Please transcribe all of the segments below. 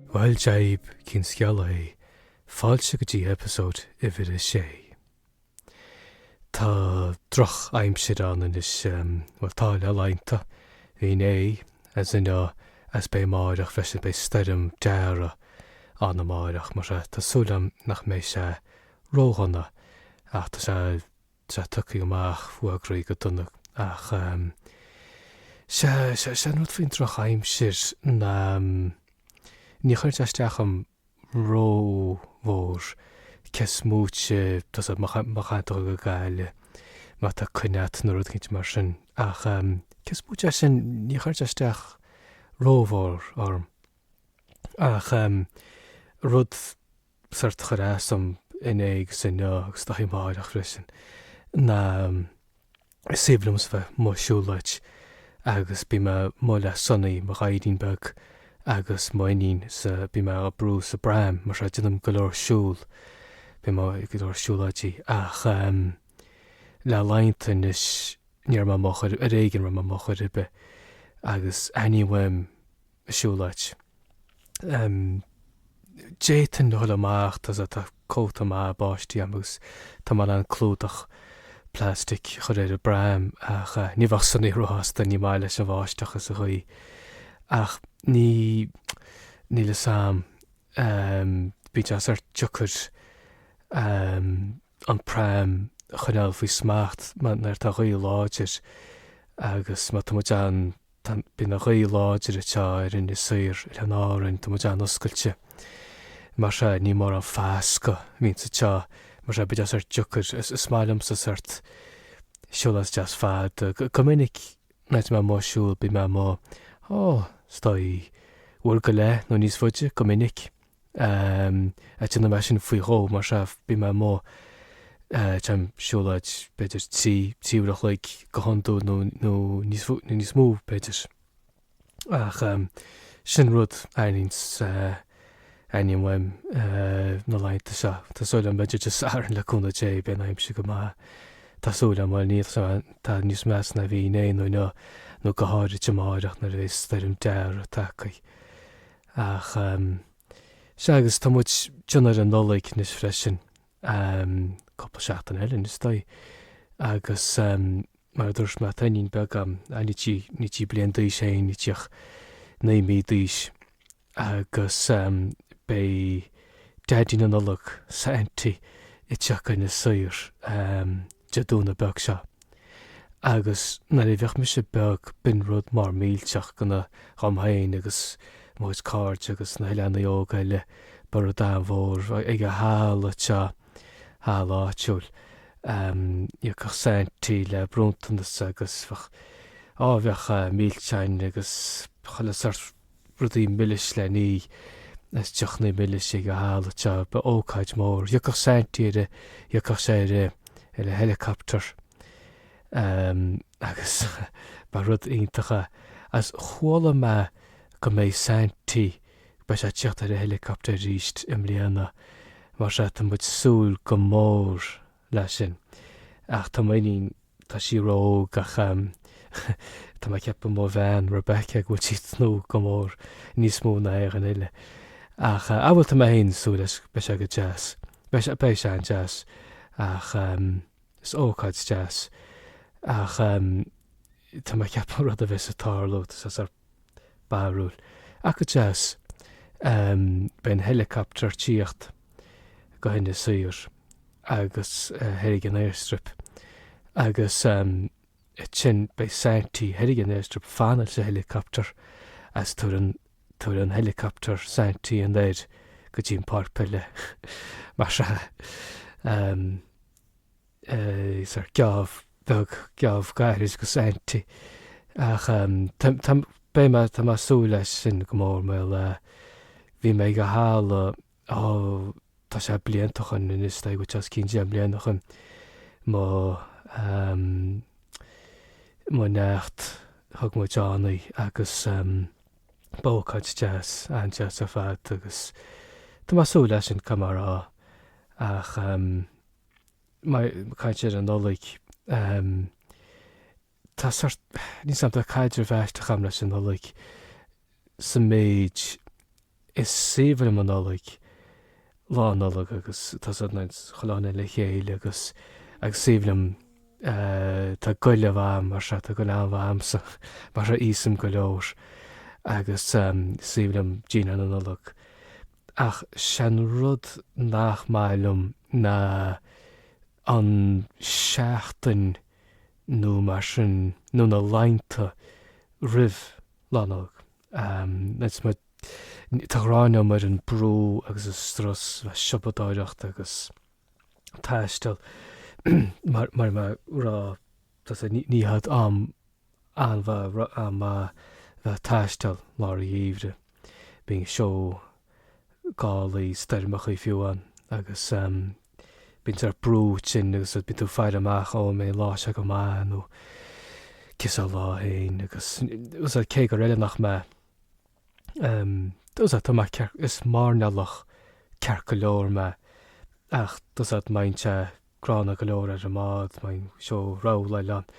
Bhuel Dia dhaoibh, cén scéal é? Fáilte go dtí eipeasóid uimhir a sé. Tá droch aimsir ann anois, bhuel tá le laethanta. Bhí inné, is inniu, is beidh amáireach freisin, beidh Stoirm Darragh ann amáireach, mar sin tá súil agam nach mbeidh sé ró-dhona ach tá sé, Sea, tugtha amach fuagraithe go dona ach sea, sea, sea an rud faoin droch aimsir ná ní chuireann sé isteach orm ró mhór cé is moite tá 'fhios a't má chaitheann tú dhul go Gaillimh má tá coinne a't nó rud eicínt mar sin ach cé is moite de sin ní chuireann sé isteach ró mhór orm ach rud sórt a chuir as dom inné agus inniu agus is dóigh amáireach freisin ná is aoibhinn liomsa a bheith amuigh ag siúlóid agus bíonn mé amuigh le Sonaí mo ghaidhrín beag agus m'iníon is bíonn mé á brú sa bpram mar sin déanaim go leor siúl bíonn mé ag go leor siúlóidí ach le laethanta anois ní raibh mé amuigh chor ar éigin a raibh mé amuigh chor ar bith agus aithním uaim an siúlóid. D'fhéadfainn dhul amach, tá 'fhios a't, tá cóta maith báistí a'm agus tá mé in ann clúdach plastic a chur ar an bpram ach ní bheadh Sonaí ró shásta, ní maith leis an bháisteach is an ghaoth. Ach ní, níl 'fhios a'm, bíonn sé sórt deacair an pram a choinneáil faoi smacht nuair atá gaoth láidir agus mar tá muid an, Bíonn an ghaoth láidir atá ar Inis Oírr, Oileáin Árann, tá muid an-oscailte. Mar sin, níl mórán fascadh bíonn sé, sea. Mar sin, bheadh sé sórt deacair. Is maith liomsa sórt siúl deas fada. Go minic, nuair atá mé amuigh ag siúl, bíonn mé amuigh, ó, is dóigh, uair go leith nó níos faide, go minic. is déanann mé sin faoi dhó, mar sin, bíonn mé amuigh, téim ag siúlóid b'fhéidir trí, trí uair an chloig go hiondúil nó, nó níos, nó níos mó b'fhéidir. Ach sin rud aithnímse, aithním uaim na laethanta seo. Tá súil agam b'fhéidir Dé Sathairn le cúnamh Dé beidh an aimsir go maith. Tá súil agam, bhuel níl, tá níos measa ná bhí inné nó inniu nó go háirithe amáireach nuair a bheas Stoirm Darragh tagtha. Ach sea, agus tá muid ag teannadh ar an Nollaig anois freisin, cúpla seachtain eile anois is dóigh, agus mar a dúirt mé tá iníon beag agam, níl sí, níl sí bliain d'aois eh, níl sí ach naoi mí d'aois, agus beidh Daidí na Nollag, Saintí, ag teacht go hInis Oírr. Dé Domhnaigh beag seo. Agus nuair a bhíodh mise beag, b'in rud mór millteach go na, dhom féin agus mo chuid cairde agus na hoileánaigh óga eile, ba rud an-mhór, ag an halla seo, halla áitiúil. Ehm, thiocfadh Saintí le bronntanais agus bheadh, á bheadh milseáin agus chuile shórt. rudaí milis le n-ithe is deochanna milis ag an halla seo. Ba ócáid mór. Thiocfadh Saintí ar an, thiocfadh sé ar an, ar an helicopter agus ba rud iontach a, is chuala mé go mbeidh Saintí, beidh sé ag tíocht ar an helicopter arís i mbliana. Mar seo tá muid ag súil go mór leis sin. Ach tá m'iníon, tá sí ró-óg ach tá mé ag ceapadh mo bhean, Rebecca, go bhfuil sí ag tnúth go mór, níos mó ná éinne eile. Ach, á bhuel, tá mé féin ag súil leis, beidh sé go deas. Beidh sé, beidh sé an-deas. Ach is ócáid deas. Ach tá mé ag ceapadh rud a bheas ag tarlú, tá sé sórt. barúil ach go deas. Beidh an helicopter ag tíocht go hInis Oírr agus thoir ag an airstrip agus ansin beidh Saintí thoir ag an airstrip ag fanacht leis an helicopter is tabharfaidh an helicopter Saintí anoir go dtí an pháirc peile mar sin. is sórt geábh beag, geábh gairid do Saintí ach tá beidh mé tá mé ag súil leis sin go mór mar ní raibh mé ag an halla ó tá sé blianta ó shin anois tá go dtí os cionn deich mbliana ó shin mo mo neacht thug muid ann í agus b'ócáid deas an-deas ar fad agus tá mé ag súil leis sin go mór ach Má tá mé ag caint ar an Nollaig, tá sórt, níl a fhios agam, tá caidreamh aisteach agam leis an Nollaig sa méid is aoibhinn liom an Nollaig, Lá Nollag agus tá sórt muid a' chlann le chéile agus is aoibhinn liom tá goile mhaith a'm mar tá goile an-mhaith a'msa mar íosaim go leor agus is aoibhinn liom dinnéar na Nollag. Ach is é an rud nach maith liom ná an seachtain nó mar sin nó na laethanta roimh Lá Nollag. Tá an ghráin a'm ar an brú agus an strus le siopadóireacht agus taisteal mar mar mar gheall tá a fhios a'd ní hé an t-am A bheith, a bheith ag taisteal i lár an gheimhridh, bíonn seó, gálaí, stoirmeachaí fiú ann agus bíonn sórt brú ansin agus bíonn tú ag faire amach, ó an mbeidh an lá seo go maith nó cén sórt lá é féin agus cé gur oileánach mé agus tá mé, is mairnéalach ceart go leor mé ach bíonn sé. Gránna go leor ar an mbád, muid anseo ar an oileán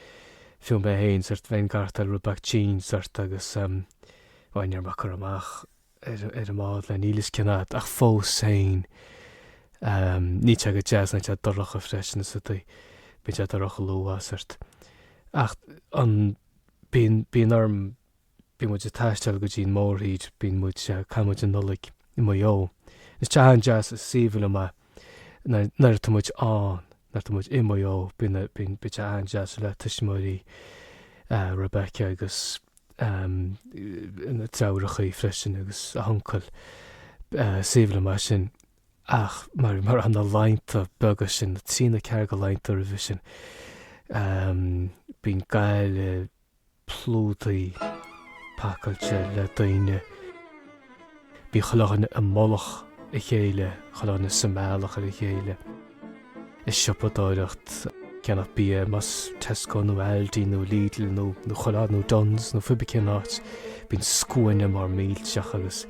fiú mé féin sórt bheinn ag aireachtáil rud beag tinn sórt agus bhuel ní raibh mé ag cur amach ar an mbád le níl a fhios cén fhad ach fós féin níl sé go deas nuair atá sé dorcha freisin is tá a fhios a'd bíonn sé dorcha luath sórt ach an bíonn bíonn orm bíonn muid ag taisteal go dtí an mórthír, bíonn muid, caitheann muid an Nollaig i Maigh Eo. Is tá sé an-deas, is aoibhinn liom é. Nuair atá muid ann, nuair atá muid i Maigh Eo, bíonn, bíonn, bíonn sé an-deas le tuismitheoirí Rebekah agus na deirfiúrachaí freisin agus a huncail. Is aoibhinn liom é sin ach mar, mar atá na laethanta beaga sin, na trí nó ceathair de laethanta roimhe sin, bíonn Gaillimh, plódaithe pacáilte le daoine, bíonn chuile dhuine i mullach a chéile, chuile dhuine sa mbealach ar a chéile, is siopadóireacht, ceannach bia, más Tesco nó Aldi nó Lidl nó chuile áit nó Dunnes nó pé ar bith cén áit, bíonn scuaine mór millteach agus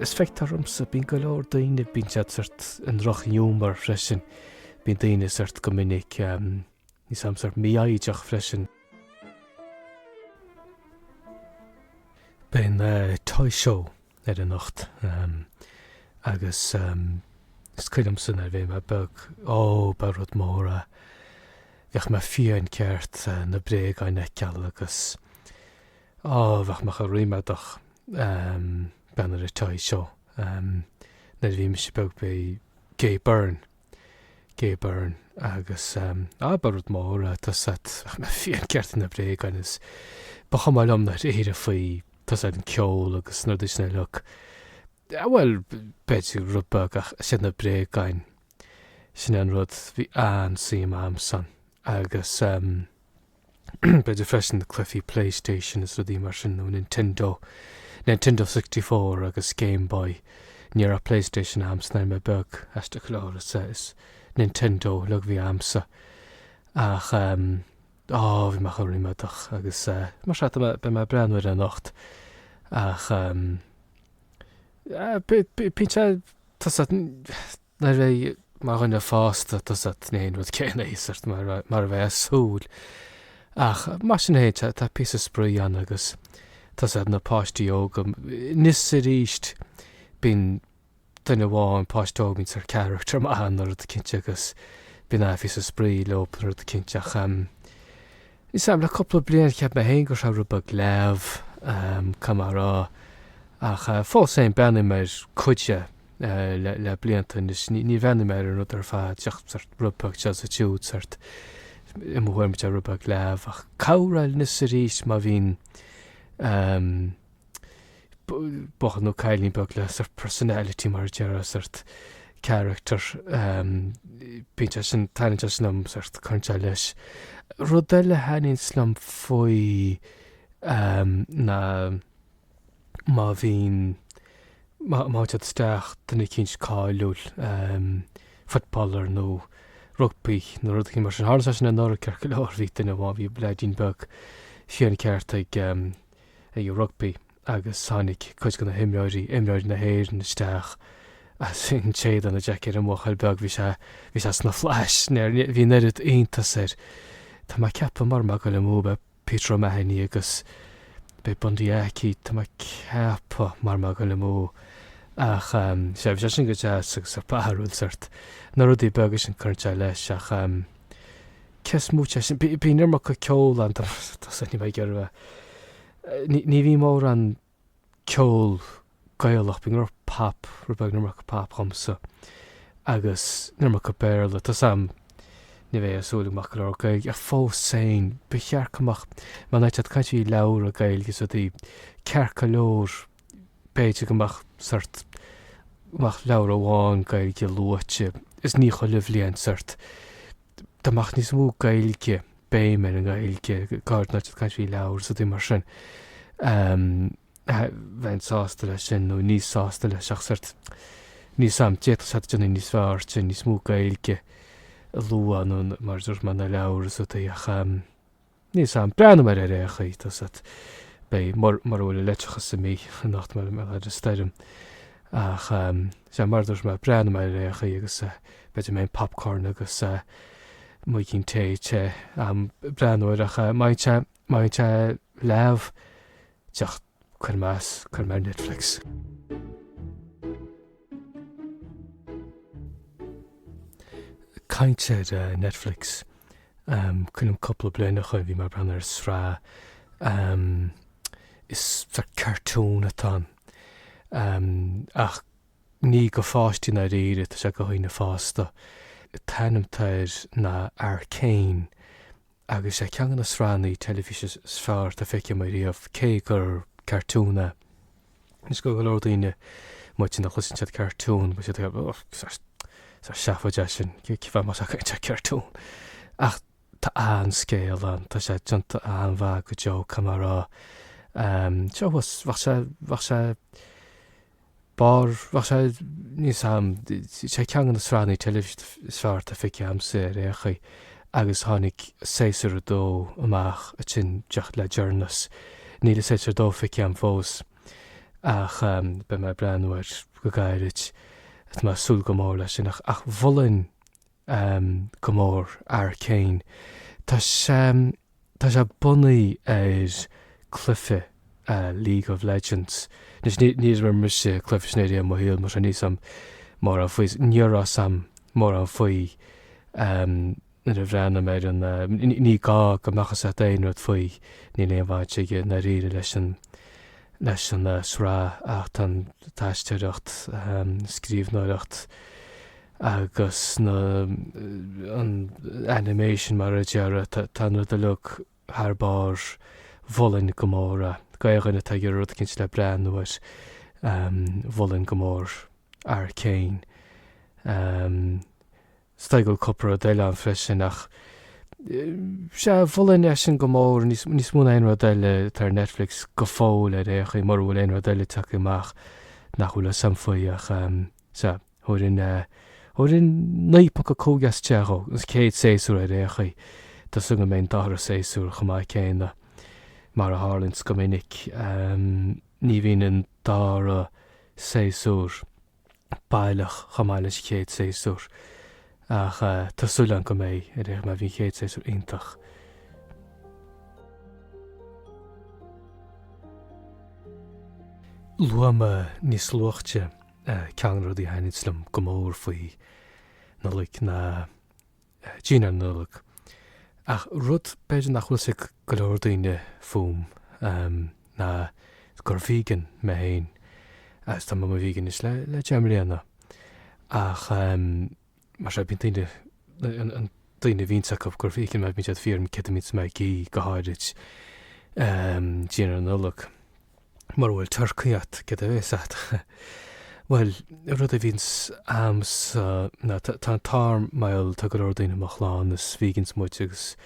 is feictear dhomsa, bíonn go leor daoine, bíonn siad sórt i ndrochghiúmar freisin, bíonn daoine sórt go minic. Níos ehm sórt mífhoighdeach freisin. Beidh an Toy Show ar anocht agus is cuimhin liomsa nuair a bhí mé beag, ó, ba rud mór é. Bheadh mé fiáin ceart na bréagáin a fheiceáil agus, ó, bheadh mé chomh ríméadach ag breathnú ar an Toy Show nuair a bhí mise beag. Ba é Gay Byrne Gay Byrne, Agus, ah, ba rud mór é, tá a fhios a'd, fiáin ceart na bréagáin is ba chuma liom i ndáiríre faoi, tá a fhios a'd an ceol agus na rudaí sin uilig. Ah bhuel, b'fhéidir rud beag ach is iad na bréagáin, sin é an rud a bhí an-suim a'msa ann agus eh, B'fhéidir freisin na cluichí Playstation is rudaí mar sin nó Nintendo, Nintendo 64 agus Game Boy. Ní raibh Playstation a'msa nuair a bhí mé beag, aiste a chlár is ea is Nintendo uilig a bhí a'msa. Ach ehm á bhí mé chomh ríméadach agus mar seo tá beidh mé ag breathnú air anocht ach ehm b'fhéidir b'fhéidir tá a fhios a'd Nuair a bheidh mar dhuine fásta tá 's a'd ní hé an rud céanna é sórt mar a bheifeá ag súil. Ach mar sin féin tá píosa spraoi ann agus tá 's a'd na páistí óga anois is arís bíonn duine amháin páiste óg a mbíonn sórt character maith ann nó rud eicínt agus bíonn píosa spraoi leob nó rud eicínt ach em níl 's a'm le cúpla bliain cheap mé féin go raibh sé rud beag leamh em caithfidh mé a rá ach fós féin breathnaím ar chuid de le blianta anois. Ní bhreathnaím ar an rud ar fad, ach sórt rud beag seo is siúd, sórt i mo thuairim tá sé rud beag leamh, ach cabhraíonn anois arís má bhíonn buachaill nó cailín beag le sórt personality mar a déarfá, sórt character, bíonn sé sin, taitníonn sé sin liom, cuireann sé leis. Rud eile a thaitníonns liom faoi ná. má bhíonn, má théann siad isteach, duine eicínt cáiliúil, footballer nó rugbaí nó rud eicínt mar sin. Tharla sé sin anuraidh ceart go leor, bhí duine amháin, bhí leaidín beag fiáin ceart ag rugbaí agus tháinig cuid de na himreoirí, imreoirí na hÉireann isteach is shín siad an, an jacket, ar an mbuachaill beag, bhí sé, bhí sé sna flaithis, bhí an oiread iontas air. Tá mé ag ceapadh, mura bhfuil mé ag goil amú, b'é, Peter O'Mahony agus b'é Bundee Aki tá mé ag ceapadh mura bhfuil mé ag goil amú ach ehm sea bhí sé sin go deas agus an-bharrúil sórt na rudaí beaga sin cuireann sé leis ach ehm cés moite de sin bíonn an iomarca ceol ann tá tá 's a'm níl mé ag iarraidh bheith ní ní bhíonn mórán ceol Gaelach, bíonn go leor pop, rud beag, an iomarca pop dhomsa agus an iomarca Béarla, tá 's a'm, ní bheifeá ag súil go mbeadh go leor Gaeilge ach fós féin, ba cheart go mbeadh, mar nuair atá tú ag caint faoi leabhra Gaeilge is rudaí, ceart go leor b'fhéidir go mbeadh sórt, go mbeadh leabhar amháin Gaeilge luaite is ní chuile bhliain sórt, dá mbeadh níos mó Gaeilge, béim ar an nGaeilge, go háirid nuair atá tú ag caint faoi leabhair is rudaí mar sin, bheinn sásta leis sin nó níos sásta leis ach sórt, níl 's a'm, d'fhéadfadh sé déanamh níos fearr sin, níos mó Gaeilge a lua nó mar a dúirt mé na leabhair is rudaí ach. Níl 's a'm, breathnóidh mé air ar aon chaoi, tá 's a'd, beidh, mur, mura bhfuil an leictreachas imithe anocht mar gheall ar an stoirm ach ehm, sea, mar a dúirt mé, breathnóidh mé air ar aon chaoi agus eh, b'fhéidir go mbeidh popcorn agus eh, muigín tae te, a'm, ag breathnú air ach eh, bíonn sé, bíonn sé leamh, ach. Cuir mé ar, cuir mé ar Netflix. Caint ar Netflix, cuimhnim cúpla bliain ó shoin bhí mé ag breathnú ar sraith, is sort cartoon atá ann ach ní do pháistí i ndáiríre tá sé do dhaoine fásta. An t-ainm atá air ná Arcane, Agus sé ceann de na sraitheannaí teilifíse is fearr dá bhfaca mé ariamh, cé gur cartún é, is gur go leor daoine b'fhéidir nuair a chloiseann siad cartún beidh siad ag rá ó seafóid é sin, cén fáth a mbeifeá ag caint ar cartún? Ach tá an scéal ann, tá sé déanta an-mhaith go deo, caithfidh mé a rá, seo bheadh sé, bheadh sé, B'fhearr, bheadh sé níos am, sé ceann de na sraitheanna teilifíse is fearr atá feicthe agamsa ar aon chaoi agus tháinig séasúr a dó amach ansin díreach le deireanas. Níl séasúr a dó feicthe agam fós ach beidh mé ag breathnú air go gairid. Tá mé ag súil go mór leis sin ach mholfainn go mór Arcane. Tá sé tá sé bunaithe ar cluife League of Legends. Anois níor imir mise cluife sin ariamh i mo shaol mar sin níl fhios a'm mórán faoi ní raibh fhios a'm mórán faoi nuair a bhreathnaigh mé ar an ní ní gá go mbeadh fhios a'd aon rud faoi níl aon bhaint aige i ndáiríre leis an leis an sraith ach tá an aisteoireacht scríbhneoireacht agus na, an, animation mar a déarfá, tá an rud uilig thar barr, mholfainn go mór é, d'aon duine atá ag iarraidh rud éicint le breathnú air, mholfainn go mór Arcane, is dóigh go bhfuil cúpla rud eile ann freisin ach sea, mholfainn é sin go mór, níos, níos mó ná aon rud eile atá ar Netflix go fóill ar aon chaoi, mura bhfuil aon rud eile tagtha amach nach bhfuil fhios a'm faoi ach sea. Thabharfainn, thabharfainn 9.5 as 10 don chéad séasúr ar aon chaoi. Tá súil agam go mbeidh an dara séasúr chomh maith céanna. Mar a tharlaíonns go minic, ní bhíonn an dara séasúr baileach chomh maith leis an gcéad séasúr ach tá súil agam go mbeidh, ar aon chaoi, mar bhí an chéad séasúr iontach. Luaigh mé níos luaite Ceann de na rudaí a thaitníonns liom go mór faoi Nollaig ná dinnéar na Nollag. Ach rud b'fhéidir nach bhfuil fhios ag go leor daoine fúm ná gur vegan mé féin agus tá mé i mo vegan anois le deich mbliana ach Mar seo bíonn daoine, na daoine a bhíonns a fhios acu gur vegan mé bíonn siad ag fiafraí dhíom céard a bhíonns mé ag ithe go háirid dinnéar na Nollag. Mura bhfuil turcaí agat céard a bhéas agat. Bhuel rud a bhíonns agamsa ná tá an t-ádh orm mar tá go leor daoine i mo chlann is vegans muid agus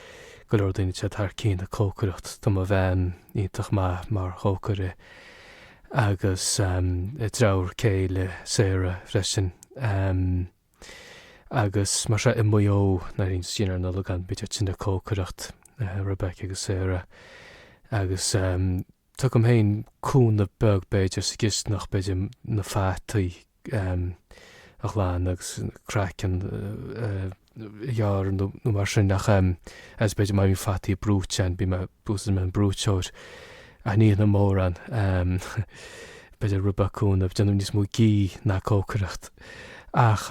go leor daoine atá thar cionn ag cócaireacht. Tá mo bhean iontach maith mar chócaire. agus deirfiúr céile Sarah freisin agus mar sea i Maigh Eo nuair a bhíonns dinnéar na Nollag ann bíonn siad sin ag cócaireacht Rebecca agus Sarah agus tugaim féin cúnamh beag b'fhéidir sa gcisteanach b'fhéidir na fataí a ghlan agus craiceann a ghearr nó mar sin ach as beidir mé fataí brúite ann bím buíochas go mbeidh an brúiteoir aithníonn mórán beidir rubacún a déanamh níos mó gí ná cócaireacht ach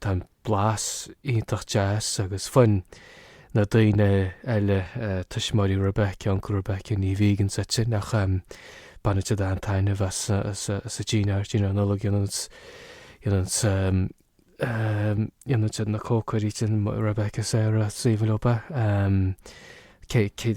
Tá an blas iontach deas agus fiú amháin na daoine eile tuismitheoirí Rebecca, uncail Rebecca ní vegans iad sin ach baineann siad an-taitneamh as an dinnéar, dinnéar na Nollag a dhéananns a dhéananns na cócairí sin Rebecca, Sarah, Stephen Lopez, cé, cé,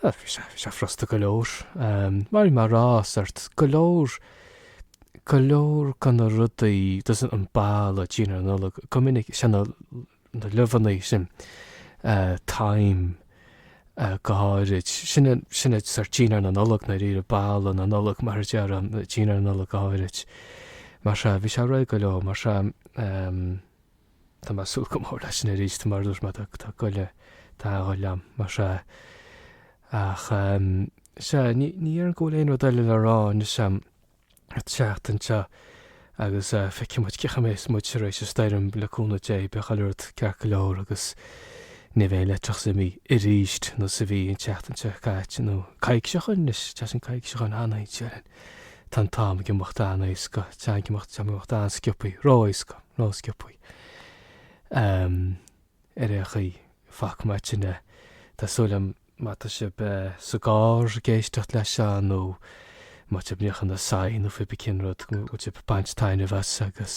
Bhí sé, bhí sé furasta go leor. Mar a rá sórt go leor, go leor de na rudaí a thugas an boladh dinnéar na Nollag go minic sin na na luibheanna sin thyme go háirid. Sin an, sin an sórt dinnéar na Nollag i ndáiríre boladh na Nollag mar a déarfá dinnéar na Nollag go háirid. Mar seo bhí sé réidh go leor mar seo Tá mé ag súil go mór leis sin arís, mar a dúirt mé, tá goile tá goile a'm, más ea. Ach, sea, ní dhéarfainn go bhfuil aon rud eile le rá anois a'm an tseachtain seo agus feicfidh muid cén chaoi a mbeas muid tar éis an stoirm, le cúnamh Dé, beidh chuile rud ceart go leor agus ní bheidh an leictreachas imithe arís nós a bhí an tseachtain seo caite nó coicís ó shin anois, tá sé coicís ó shin, an-fhoinsé orainn. Tá an t-am ag imeacht an-éasca, tá an t-am ag imeacht, tá an t-am ag imeacht an-sciopthaí, ró-éasca, ró-sciopthaí. Ar aon chaoi, fágfaidh muid ansin é, tá súil agam má tá sibh sa gcarr ag éisteacht leis seo nó má tá sibh ag níochán na soithí nó cibé cén rud go bhfuil sibh ag baint taitneamh as agus.